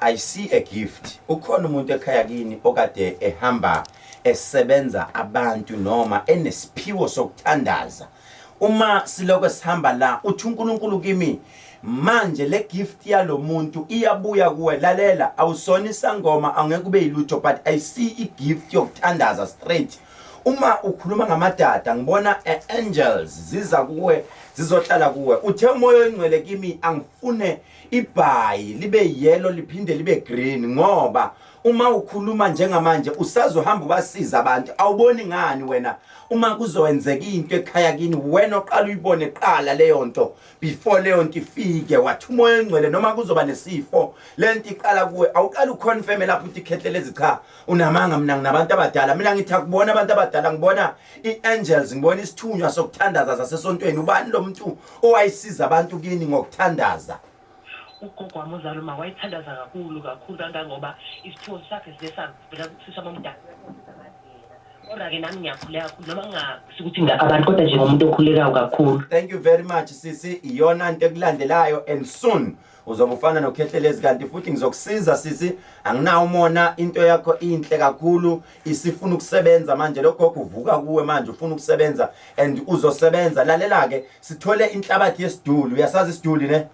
I see a gift ukhona umuntu ekhaya kini okade ehamba esebenza abantu noma enesiphiwo sokuthandaza uma siloko sihamba la uthi uNkulunkulu kimi manje le gift yalomuntu iyabuya kuwe lalela awusona isangoma angeke ube yilutho but i see i gift yokuthandaza straight uma ukhuluma ngamadada ngibona eh, angels ziza kuwe zizohlala kuwe uthe umoya oyingcwele kimi angifune ibhayi libe yellow liphinde libe green ngoba uma ukhuluma njengamanje usazohamba ubasiza abantu awuboni ngani wena uma kuzokwenzeka into ekhaya kini wena oqala uyibone qala leyo nto before leyo nto ifike wathi umoya engcwele noma kuzoba nesifo le nto iqala kuwe awuqala uconfirme lapho uthi khehlelezi cha unamanga mina nginabantu abadala mina ngithi akubona abantu abadala ngibona i-angels ngibona isithunywa sokuthandaza zasesontweni ubani lo mntu owayisiza abantu kini ngokuthandaza. Ugogo wami ozala uma wayithandaza kakhulu kakhulu kangangoba isiphiwo sakhe sibe savela kusisa omdala. Kodwa-ke nami ngiyakhuleka kakhulu noma ngingafisi ukuthi ngilapha abantu kodwa njengomuntu okhulekayo kakhulu. Thank you very much sisi, iyona nto ekulandelayo and soon uzobe ufana nokhehlelezi kanti futhi ngizokusiza sisi anginawo umona into yakho inhle kakhulu isifuna ukusebenza manje logogo uvuka kuwe manje ufuna ukusebenza and uzosebenza lalela ke sithole inhlabathi yesiduli uyasazi isiduli ne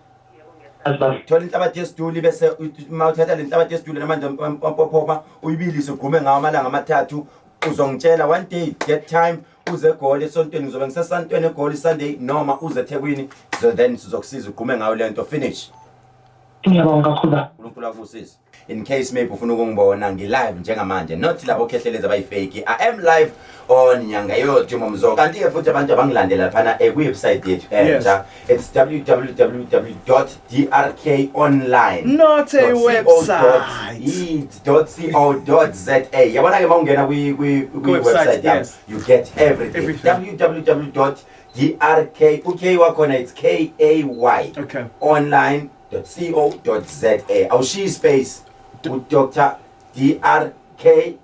thola inhlabathi yesiduli bese uma uthatha le nhlabathi yesiduli namanje wampophopa uyibilise ugume ngawo amalanga amathathu uzongitshela one day get time uze egoli esontweni ngizobe ngisesantweni egoli sunday noma uze ethekwini so then sizokusiza ugqume ngayo le nto finish ngiyabonga kakhulu baba unkulunkulu akusise in case maybe ufuna ukungibona ngi-live njengamanje not labo khehlelezi abayifeki i am live on nyanga yodimo mzo kanti-ke futhi abantu abangilandela phana ekuwebsite yethu entsha It's www.drkonline. Not a website. It's .co.za. Yabona ke mawungena kwi kwi kwi website yami. Yes. You get everything. everything. www.drk uKay wakhona it's K A Y. Okay. online.co.za. Awushiyi space. U Dr. DRK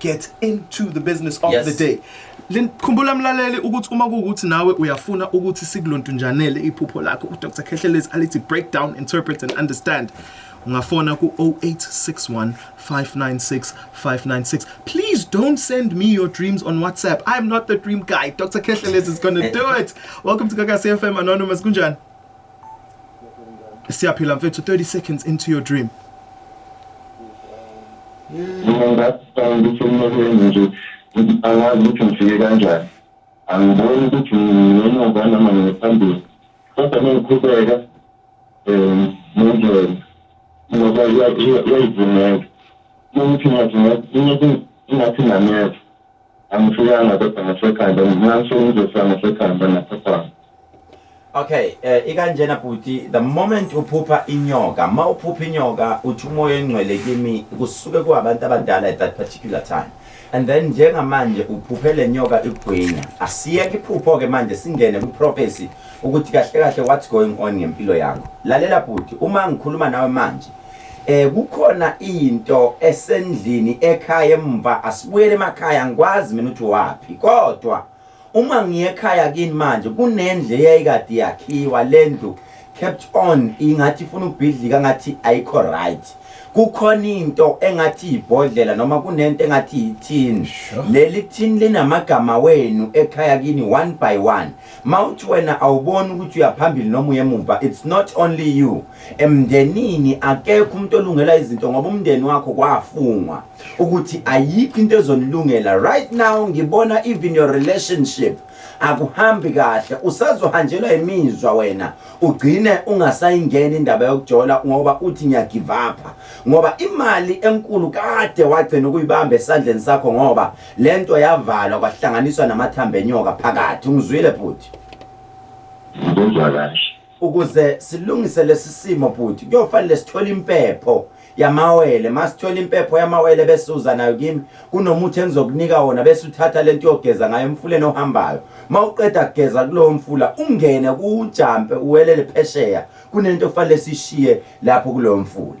get into the business of yes. the day khumbula mlaleli ukuthi uma kuwukuthi nawe uyafuna ukuthi sikulontunjanele iphupho lakho udr khehlelezi alithi break down interpret and understand ungafona ku-0861 596 596 please don't send me your dreams on whatsapp i'm not the dream guy dr khehlelezi is gonna do it welcome to kakasi fm anonymous kunjani siyaphila mfethu 30 seconds into your dream mina ngaqala ukuthi emlokweni nje angazi ukuthi ngifike kanjani angiboni ukuthi ngemuva noma ngiphambili kodwa mengiqhubeka um nendlela ngoba yayivumeka ukuthi ngathi ngathi nameva angifikanga kodwa ngasekhanda ngingasho ngizosa ngasekhanda naphaphama okay eh ikanjena bhuti the moment uphupha inyoka ma uphupha inyoka uthi umoya engcwele kimi kusuke kuabantu abadala at that particular time and then njengamanje uphuphe le nyoka igwinya asiyeke iphupho ke manje singene ku prophecy ukuthi kahle kahle what's going on ngempilo yakho lalela bhuti uma ngikhuluma nawe manje Eh kukhona into esendlini ekhaya emva asibuyele emakhaya ngikwazi mina ukuthi wapi kodwa uma ngiye ekhaya kini manje kunendle eyayikade yakhiwa lendlu kept on ingathi ifuna ubhidlika ngathi ayikho right kukhona into engathi ibhodlela noma kunento engathi ithini leli thini linamagama wenu ekhaya kini one by one Mawuthi wena awuboni ukuthi uyaphambili noma uyemumva it's not only you emndenini akekho umuntu olungela izinto ngoba umndeni wakho kwafungwa ukuthi ayikho into ezonilungela right now ngibona even your relationship akuhambi kahle usazohanjelwa imizwa wena ugcine ungasayingeni indaba yokujola ngoba uthi ngiyagive up ngoba imali enkulu kade wagcina ukuyibamba esandleni sakho ngoba Lento yavalwa kwahlanganiswa namathambo enyoka phakathi ungizwile bhuti Ngizwa kahle ukuze silungise lesi simo bhuti kuyofanele sithole impepho yamawele masithola impepho yamawele bese uza nayo kimi kunomuthi engizokunika wona bese uthatha lento yogeza ngayo emfuleni ohambayo mawuqeda kugeza kulowo mfula ungene kujampe uwelele phesheya kunento ofanele sishiye lapho kulowo mfula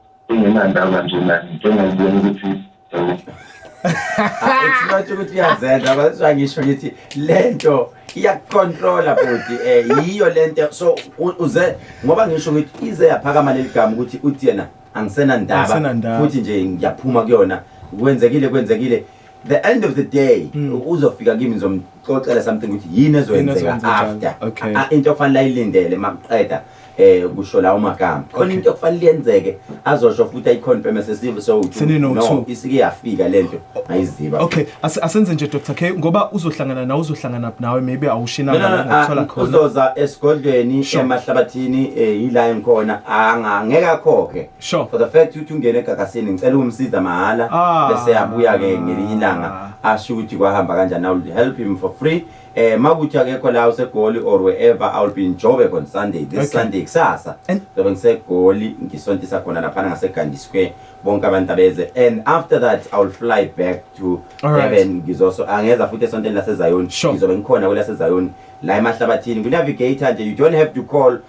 engenandaba nje nani njengokubona ukuthi eh, Ethi ukuthi iyazenza kodwa ngisho ngithi lento iyakucontrola bhuti eh yiyo lento so u- uze ngoba ngisho ngithi ize yaphakama leli gama ukuthi uthi yena angisenandaba Angisenandaba. futhi nje ngiyaphuma kuyona kwenzekile kwenzekile the end of the day mm. uzofika kimi ngizomxoxela something ukuthi yini ezoyenzeka after okay. Ah, into okufanele ayilindele makuqeda eh kusho lawo magama khona into okufanele yenzeke azosho futhi ayiconfirm sesive so no isike yafika lento ayiziba okay asenze nje Dr K ngoba uzohlangana nawe uzohlangana nawe maybe awushina ngokuthola ah, khona uzoza esigodlweni emahlabathini eh, yila engikhona angangeke akhokhe Sure. For the fact ukuthi ungene egagasini ngicela ukumsiza mahhala ah. bese yabuya ke ngelinye ilanga asho ukuthi kwahamba kanjani I will help him for free. Eh makuthi akekho la usegoli or wherever I will be in Joburg on Sunday this okay. Sunday kusasa. Ngoba ngisegoli ngisontisa khona lapha ngaseGandhi Square bonke abantu abeze and after that I will fly back to Durban ngizoso angeza futhi esonteni laseZion ngizobe ngikhona kwelaseZion la emahlabathini ku navigator nje you don't have to call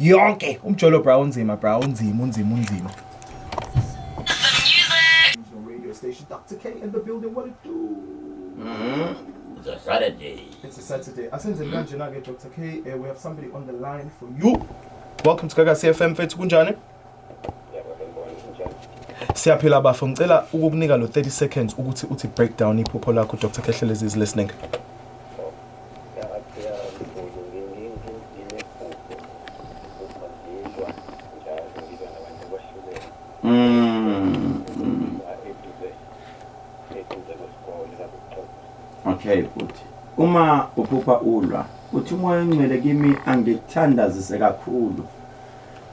yonke umjolo bra unzima bra unzima unzima unzima radio station Dr. K in the building what it do Mhm. It's a Saturday. It's a Saturday. Asenze kanje na ke Dr. K. Uh, we have somebody on the line for you. Welcome to Gaga CFM mfethu kunjani? Siyaphila bafo ngicela ukukunika lo 30 seconds ukuthi uthi breakdown iphupho lakho Dr. Khehlelezi is listening. Mm. Okay futhi uma uphupha ulwa uthi umoya ongcwele kimi angikuthandazise kakhulu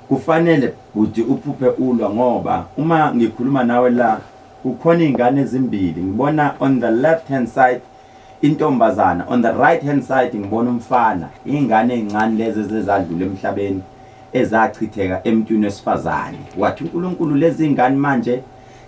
Kufanele bhuti uphuphe ulwa ngoba uma ngikhuluma nawe la kukhona izingane ezimbili ngibona on the left hand side intombazana on the right hand side ngibona umfana izingane ezincane lezi ezezadlula emhlabeni ezachitheka emntwini wesifazane wathi uNkulunkulu lezi zingane manje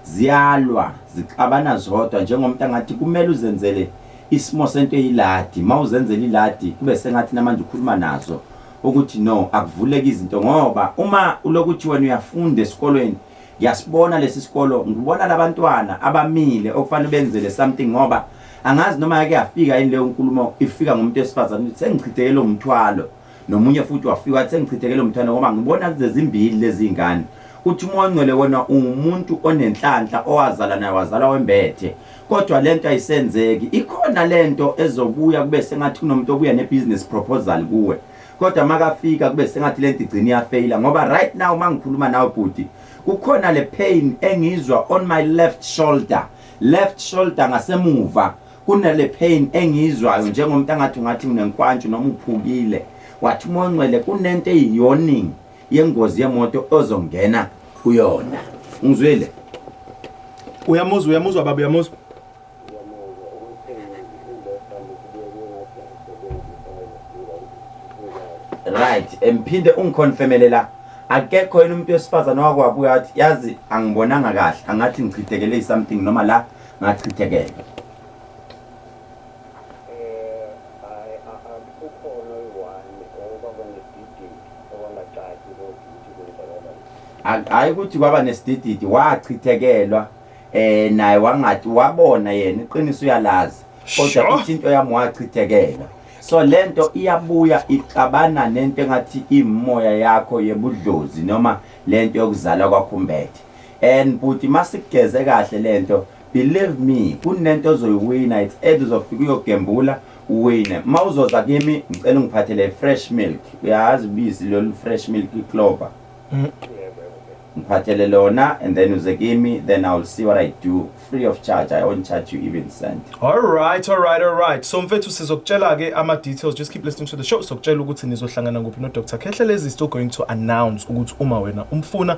ziyalwa zixabana zodwa njengomuntu angathi kumele uzenzele isimo sento eyiladi mawuzenzela iladi kube sengathi namanje ukhuluma nazo ukuthi no akuvuleke izinto ngoba uma ulokuthi wena uyafunda esikolweni ngiyasibona lesi sikolo ngibona labantwana abamile okufanele benzele something ngoba angazi noma yake yafika yini leyo nkulumo ifika ngomuntu esifazane ukuthi sengichithekele umthwalo nomunye futhi wafika wathi sengichithekele umthwalo ngoba ngibona zezimbili lezi ngane uthi umoya ongcwele wona ungumuntu onenhlanhla owazala naye wazala wembethe kodwa lento ayisenzeki ikhona lento ezobuya kube sengathi kunomuntu obuya ne business proposal kuwe kodwa makafika kube sengathi lento igcina iyafeyila ngoba right now mangikhuluma nawe bhuti kukhona le pain engizwa on my left shoulder left shoulder ngasemuva kunale pain engiyizwayo njengomuntu angathi ungathi unenkwantshu noma uphukile wathi umoncwele kunento eyiyonining yengozi yemoto ozongena kuyona ungizwile uyamuzwa uyamuzwa baba uyamuzwa right emphinde ungiconfirmele la akekho yena umuntu wesifazane wakwabuya athi yazi angibonanga kahle angathi ngichithekele something noma la ngachithekele hayi ukuthi kwaba nesidididi wachithekelwa eh naye wangathi wabona yena iqiniso uyalazi kodwa uthi into yami wachithekelwa so lento iyabuya ixabana nento engathi imoya yakho yebudlozi noma lento yokuzala kwakhumbethe and buti masigeze kahle lento believe me kunento ozoyiwina it's either uzofika uyogembula Uwine. Uma uzoza kimi ngicela ungiphathele fresh milk. Uyazi ubisi lolu fresh milk clover. Mm. Ngiphathele lona and then uze kimi then I will see what I do free of charge. I won't charge you even cent. All right, all right, all right. So mfethu sizokutshela ke ama details. Just keep listening to the show. Sizokutshela ukuthi nizohlangana kuphi no Dr. Khehle lezi still going to announce ukuthi uma wena umfuna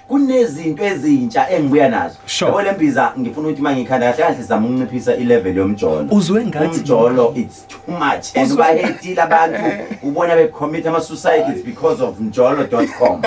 kunezinto ezintsha engibuya nazo Sure. yabo le mbiza ngifuna ukuthi uma ngikhanda kahle kahle zama ukunciphisa ilevel yomjolo Uzwe ngathi- umjolo it's too much and Uzwe- bahetile abantu ubona becommit ama-suicides because of mjolo.com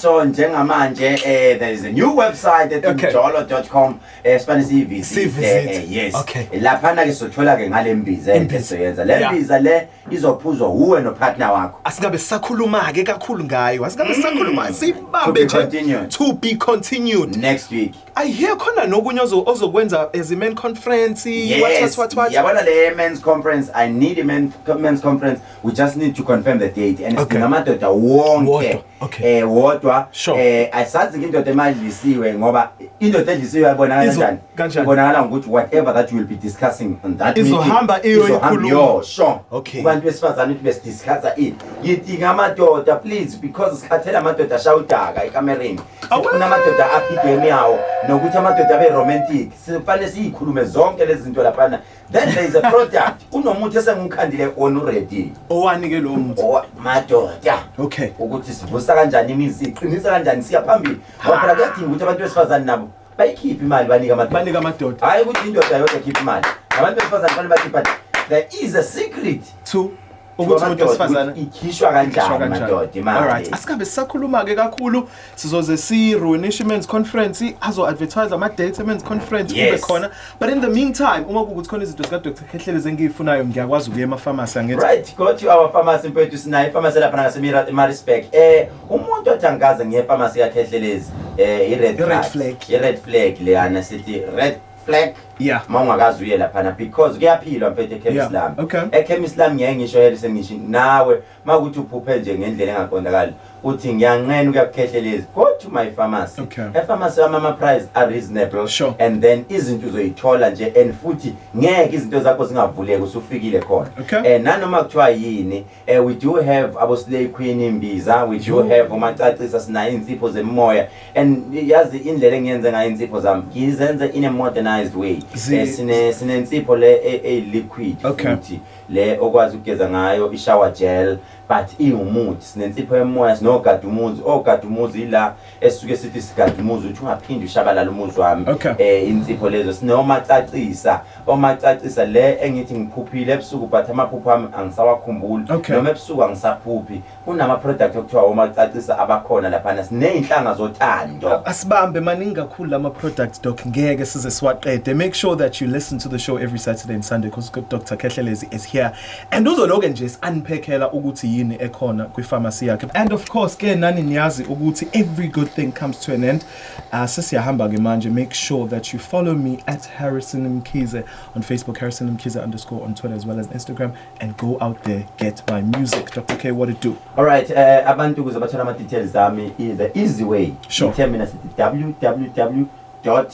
so njengamanje eh, there is a new website at Okay. mjolo.com eh, sifane siyivisite Siyivisite. eh, yes Okay. laphana-ke sothola-ke ngale mbiza Imbiza. esizoyenza le Yeah. mbiza le izophuzwa wuwe nopartner wakho asingabe sisakhuluma-ke kakhulu ngayo asingabe sisakhuluma siyibambe Mm. To be nje continued. to be continued next week i hear khona nokunye ozo- ozokwenza as iman conference what, yes what, what, what. yabona le men's conference i need a men, men's conference we just need to confirm the date and Okay. singamadoda wonke Wodwa. Okay. eh wodwa Sure. eh asazi ke indoda emadlisiwe ngoba indoda edlisiwe yabonakala Izo- kanjani kanjani? ibonakala ngokuthi whatever that you will be discussing on that meeting, Izohamba iyoyikhuluma. izohamba iyo, sure Okay. kubantu besifazane ukuthi besidiscussa ini yidinga amadoda please because sikhathela amadoda ashaya udaka ekamereni sifuna amadoda aphi igame yawo nokuthi amadoda abe romantic sifanele siyikhulume zonke lezi zinto laphana then there is a product kunomuthi esengiwukhandile wona uready owani ke lowo muthi Owa- madoda okay ukuthi sivusa kanjani imizi iqinisa kanjani siya phambili ngoba phela kuyadinga ukuthi abantu besifazane nabo bayikhiphe imali banike amadoda banika amadoda hhayi ukuthi indoda yodwa ekhipha imali nabantu besifazane fanele bakhipha there is a secret to ukuthi umuntu wesifazane ikhishwa kanjani madoda imali alright asikambe sisakhuluma ke kakhulu sizoze si Ruinish Men's Conference azo advertise ama dates men's conference kube khona but in the meantime uma kukuthi khona izinto zika Dr Khehlele zengiyifunayo ngiyakwazi ukuya ema pharmacy angithi right go to our pharmacy mfethu sinayo pharmacy lapha ngase Mira Marisburg eh umuntu othi angikaze ngiye pharmacy ka Khehlelezi eh i red flag i red flag leyana sithi red black yeah uma ungakazi uye laphana because kuyaphilwa mfethu ekhemisi Yeah, lami okay. ekhemisi lami ngeke ngisho yele sengisho nawe uma kuthi uphuphe nje ngendlela engaqondakali uthi ngiyanqena ukuyakukhehlelezi go to my pharmacy Okay. epharmacy yami ama-price are reasonable Sure. and then izinto uzoyithola nje and futhi ngeke izinto zakho zingavuleki usufikile khona Okay. um nanoma kuthiwa yini Eh, we do have abo slay queen imbiza we do have omacacisa sinayo insipho zemimoya and yazi indlela engiyenze ngayo insipho zami ngizenze in a modernized way Zi- Eh, sine sinensipho le e- e liquid Okay. futhi le okwazi ukugeza ngayo i shower gel but iwumuthi sinensipho yemoya sinogada umuzi ogada umuzi ila esisuke sithi sigade umuzi uthi ungaphinde ushabalala umuzi wami Okay. eh insipho lezo sinomacacisa omacacisa le engithi ngiphuphile ebusuku but amaphupho ami angisawakhumbuli Okay. noma ebusuku angisaphuphi kunama product okuthiwa omacacisa abakhona laphana sinezinhlanga zothando asibambe maningi kakhulu lama products doc ngeke size siwaqede make sure that you listen to the show every saturday and sunday because dr khehlelezi is here and uzoloke nje si-unpackela ukuthi yini ekhona kwi-pharmacy yakhe and of course ke nani niyazi ukuthi every good thing comes to an end uh, sesiyahamba-ke manje make sure that you follow me at harrison mkhize on facebook harrison mkhize underscore on twitter as well as instagram and go out there get my music dr k what it do all right uh, abantu ukuze bathole ama-details ami the easy way sure. mina sithi www dr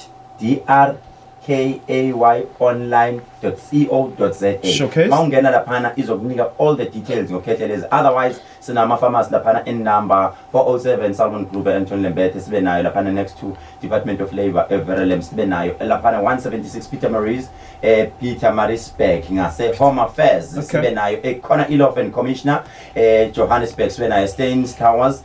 kayonline.co.za Showcase. mawungena laphana izokunika all the details ngokhethe lezi otherwise sinama-pharmacy laphana in number 407 salmon group e-anton lembethe sibe nayo laphana next to department of labour everelem sibe nayo laphana 176 peter maries eh, peter marisburg ngase-home affairs Okay. sibe nayo ekhona i-law and commissioner eh, johannesburg sibe nayo stains towers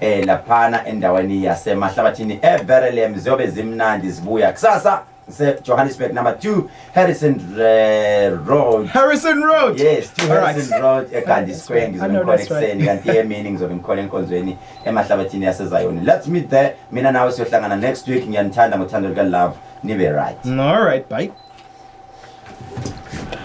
eh laphana endaweni yasemahlabathini eBerelem ziyobe zimnandi zibuya kusasa Johannesburg number 2 Harrison uh, Road Harrison Road yes 2 Harrison right. Road eGandhi Square ngizomkhona ekseni kanti emini ngizobe ngikhona enkonzweni emahlabathini yaseZayoni let's meet there mina nawe siyohlangana next week ngiyanithanda ngothando luka love nibe right all right bye